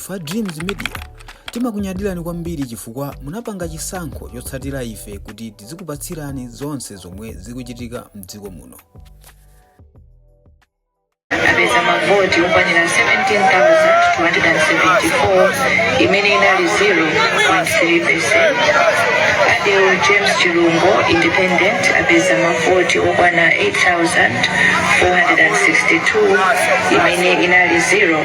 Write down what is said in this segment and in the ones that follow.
Ife a Dreams Media timakunyadirani kwambiri chifukwa munapanga chisankho chotsatira ife kuti tizikupatsirani zonse zomwe zikuchitika mdziko muno. apeza mavoti okwana 17,274 imene inali 0.3 percent adewo james chilungo independent apeza mavoti okwana 8,462 imene inali 0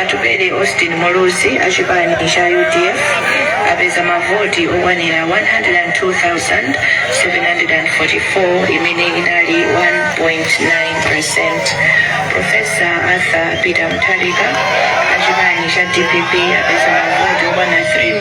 Atupele Austin Muluzi a chipani cha udf apeza mavoti okwana 102,744 imene inali 1.9%. Profesa Arthur Peter Mutharika a chipani cha dpp apeza mavoti okwana 3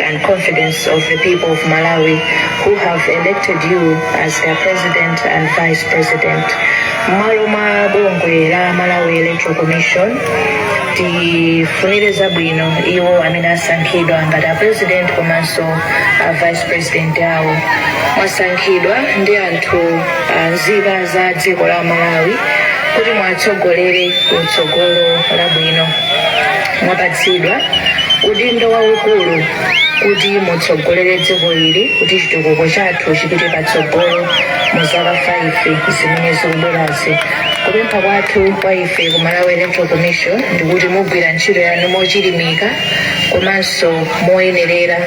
and confidence of the people of Malawi who have elected you as their president and vice president. Mmalo mwa bungwe la Malawi Electoral Commission tifunire zabwino iwo amene asankhidwa ngati a president komanso a vice president awo mwasankhidwa ndi anthu anzika za dziko la Malawi kuti muwatsogolere ku tsogolo labwino. mwapatsidwa udindo waukulu kuti mutsogolere dziko ili kuti chitukuko chathu chipite patsogolo mu zaka 5 zimene zikubwerazi kupempha kwathu kwa ife ku malawi electoral commission ndikuti mugwire ntchito yanu mochilimika komanso moyenerera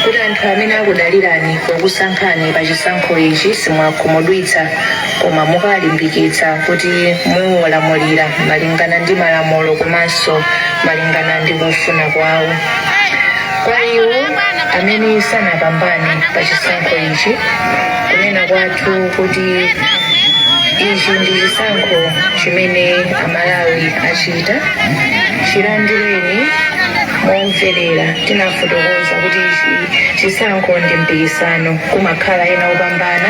kuti anthu amene akudalirani pokusankhani pa chisankho ichi simuwakhumudwitsa koma mukawalimbikitsa kuti muwalamulire malingana ndi malamulo komanso malingana ndi kufuna kwawo kwa iwo amene sanapambane pa chisankho ichi kunena kwathu nkuti ichi ndi chisankho chimene amalawi achita chilandireni momverera tinafotokoza kuti ichi chisankho ndi mpikisano kumakhala ena opambana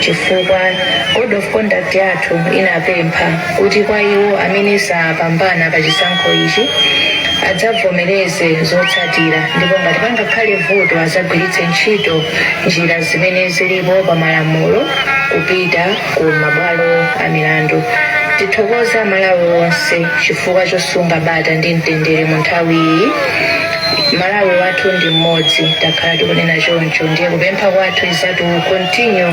chifukwa code of conduct yathu inapempha kuti kwa iwo amene sanapambane pa chisankho ichi adzavomereze zotsatira ndipo ngati pangakhale vuto adzagwiritse ntchito njira zimene zilipo pa malamulo kupita ku mabwalo a milandu tithokoze amalawi onse chifukwa chosunga bata ndi mtendere mu nthawi iyi malawi wathu ndi mmodzi takhala tikunena choncho ndiye kupempha kwathu is that we continue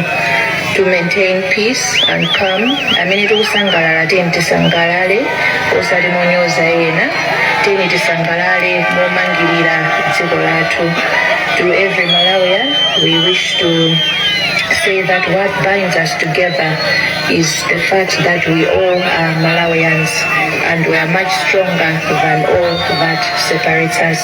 to maintain peace and calm amene tikusangalala tiyeni tisangalale osati monyoza ena tiyeni tisangalale momangirira dziko lathu to every malawian we wish to say that what binds us together is the fact that we all are malawians and we are much stronger than all that separates us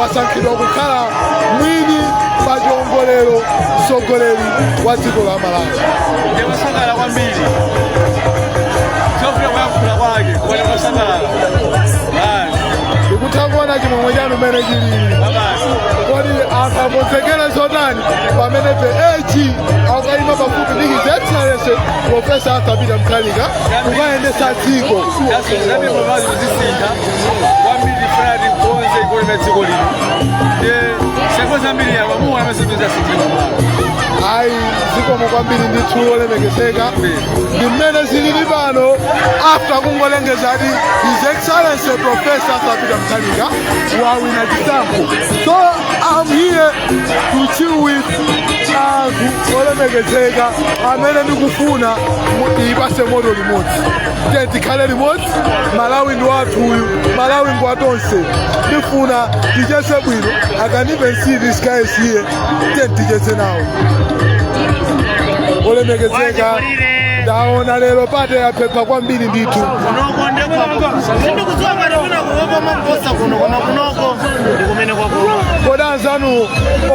wasankhidwa kukhala mwini pa chiongolero mtsogoleri wa dziko la malawi ndikusangalala kwambiri chifukwa kuyankhula kwake koma ndikusangalala ndikutha kuona chimwemwe chanu mmene chilili kodi anthu akonzekere zotani pamene the VP akayima pafupi ndi his excellency profesa arthur peter mutharika kukayendetsa dziko kwambiri fulani konse goli la dziko lino ndi seko zambiri apa muona masindiza sitima ayi zikomo kwambiri ndithu olemekezeka ndi mmene zilili pano after kungolengeza kuti his excellency professor arthur peter mutharika wawina chisankho so am here to chill with anthu olemekezeka amene ndikufuna muyipatse moto limodzi tiye tikhale limodzi malawi ndi wathu uyu malawi ngwa tonse ndifuna tichese bwino i can even see this guy is here tiyeni tichese nawo olemekezeka ndaona lero party yaphepha kwambiri ndithu kunoko ndekwapo sindikudziwa ngati wina kuopa maposa kuno koma kunoko ndikumene kwakuopa kodi anzanu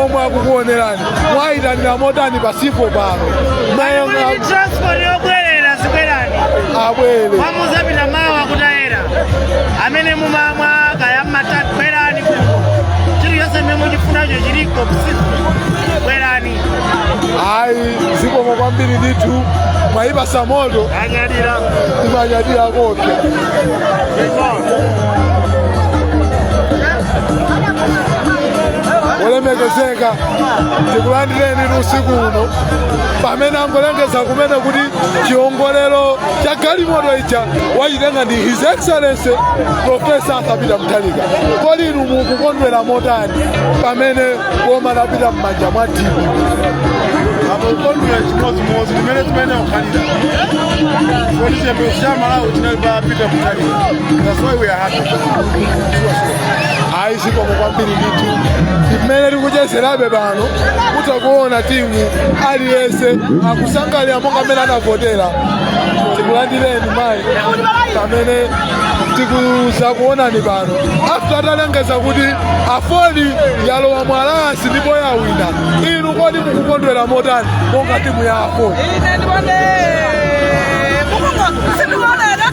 omwe akukuonerani mwayitanira motani pa sipoti pano mayanga ndi transport yobwerera zibwerani abwere muzapita mawa kutayera amene mumamwa kaya mumatani bwerani kuno chilichonse mmene muchifunacho chiliko kusiku bwerani ayi zikomo kwambiri ndithu mwayipatsa moto anyadira imanyadira kopya olemekezeka tikulandireni ndi usiku uno pamene angolengeza kumene kuti chiongolero cha galimoto ija wachitenga ndi his excellency profesa arthur peter mutharika kodi inu mukukondwera motani pamene boma lapita m'manja mwa dpp tikukondwera chimodzimodzi mmene zimene zakhalira kuti chiyembekezo cha amalawi chinali pa peter mutharika that's why we are happy ayi zikomo kwambiri ndithu mmene tikuchezerabe pano kutha kuona timu aliyense akusangalala monga amene anavotera tikulandireni mayi pamene tikudzakuonani pano after atalengeza kuti aford yalowa mu alliance ndipo yawina inu kodi mukukondwera motani monga timu ya aford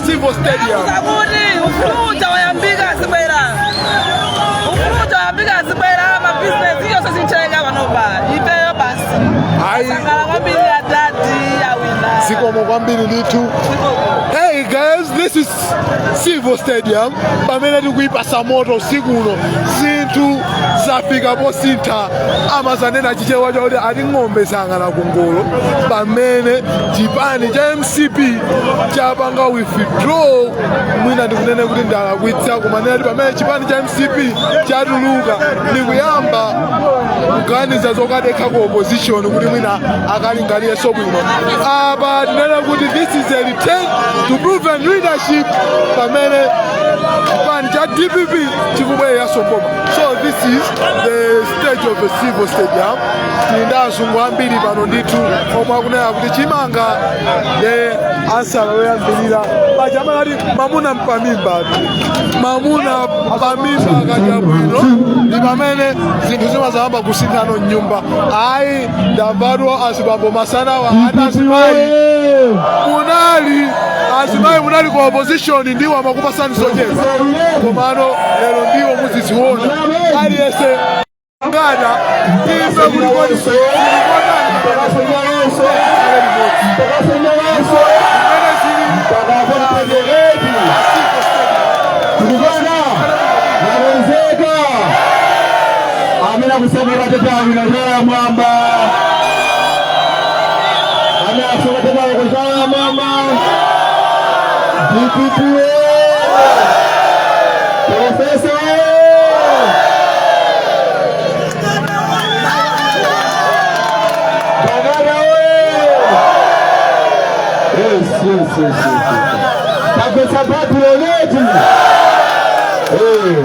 Civo Stadium. Kuti ufulu uja wayambika azibwera. Ufulu uja wayambika azibwera ma business iyo sisi mchenga panopa. Ifeyo basi. Ayi. Tasangalala kwambiri a dadi awina. Zikomo kwambiri ndithu. Hey guys, this is Civo Stadium pamene tikuyipasa moto usiku uno zinthu zafika posintha amazanena chichewa chakuti ati ng'ombe zayang'ana kungolo pamene chipani cha mcp chapanga withdraw mwina ndikunene kuti ndilakwitsa kumanena kuti pamene chipani cha mcp chatuluka ndikuyamba kuganiza zokadekha ku opposition kuti mwina akalinganireso bwino apa tinene kuti this is a return to proven leadership pamene chipani cha dpp chikubwereranso mboma so this is the stage of civo stadium tili ndi azungu ambiri pano ndithu omwe akunena kuti chimanga ndi ansala yoyambirira paja amanati mamuna mpamimba mamuna pamimba akadya bwino ndi pamene zinthu zimazayamba kusinthano mnyumba ayi ndadabwa azibambo masanawa anazimayi munali azimayi munali ku opposition ndiwo amakupasani zocheza komano lero ndiwo muziziona aliyese ngada ife kulikoni amene akusankha matete awo ina zala mwamba amene akusankha matete awo kuzala mwamba dpp profesa bagara yes yes yes yes bagwetsa bati loleti Eh.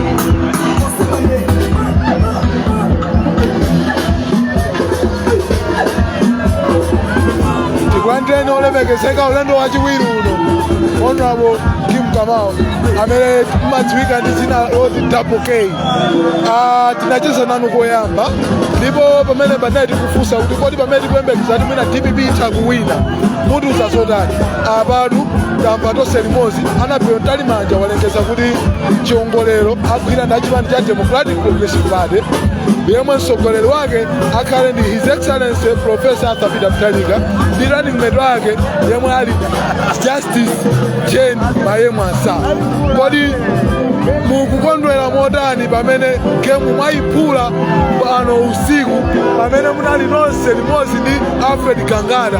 tikulandireni olemekezeka ulendo wachiwiri uno honorable kim kamau amene mumadziwika ndi dzina loti double k Ah, tinacheza nanu koyamba ndipo pamene panali tikufunsa kuti kodi pamene tikuyembekeza kuti mwina dpp itha kuwina mutiuza zotani apatu tamva tonse limodzi annabel mtalimanja walengeza kuti chiongolero agwira ndi achipani cha democratic progressive party yemwe mtsogoleri wake akhale ndi his excellency professor arthur peter mutharika ndi running mate wake yemwe ali justice jane mayemu ansah kodi mukukondwera motani pamene gemu mwayiphula pano usiku pamene munali nonse limodzi ndi alfred gangata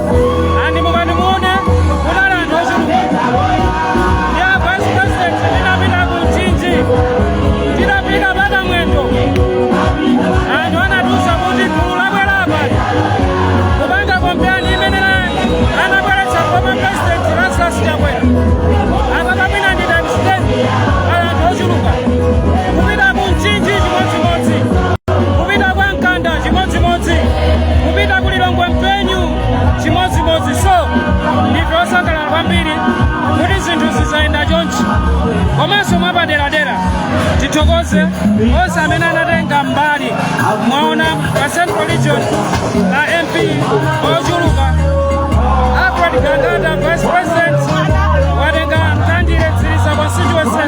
ndipo mukati muone kunali anthu ochuluka ndi a vice president ndinapita ku mchinji tinapita pa Kamwendo anthu anatiuza kuti gulu labwera apa ali kupanga kampeni limene anabweretsa kwa president lazarus chakwera apa kapena ndi nabisiteni anthu ochuluka kupita ku mchinji chimodzi chimodzimodzi kupita kwa mkanda chimodzimodzi kupita ku lilongwe mpenu chimodzimodzi so ndife osangalala kwambiri kuti zinthu zizayenda chonchi komanso mwapaderadera tithokoze onse amene anatenga mbali mwaona pa central region la mp ochuluka alfred gangata vice president watenga mtandire mtsiriza constituency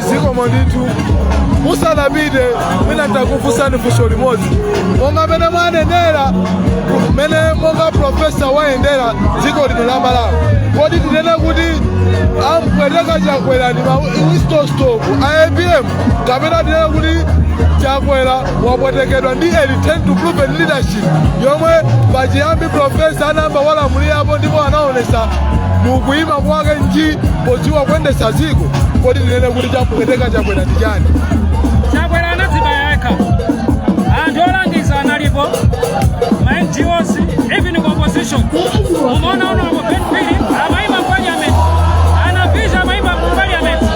zikomo ndithu musanapite mwina nditakufunsani funso limodzi monga mmene mwayendera mmene monga profesa wayendera dziko lino la malawi kodi tinene kuti wampweteka chakwera ndi ma whistle stop a apm kapena tinene kuti chakwera wapwetekedwa ndi a return to proven leadership yomwe pachiyambi profesa anayamba alamulirapo ndipo anaonesa mukuyima kwake nji podziwa kuyendetsa dziko kodi tinene kuti chamupweteka chakwera ndi chani chakwera anadzibaya yekha anthu olangiza analipo ma ngos even ku opposition umaona ono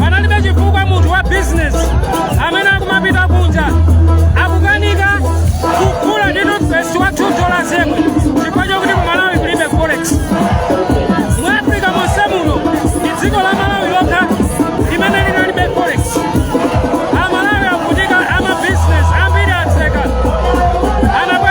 panalibe chifukwa munthu wa business amene akumapita kunja akukanika kugula ndi toothpaste wa 2 dollars yemwe chifukwa chokuti ku malawi kulibe forex mu africa monse muno ndi dziko la malawi lokha limene linalibe forex amalawi akuvutika ama business ambiri atseka anabwe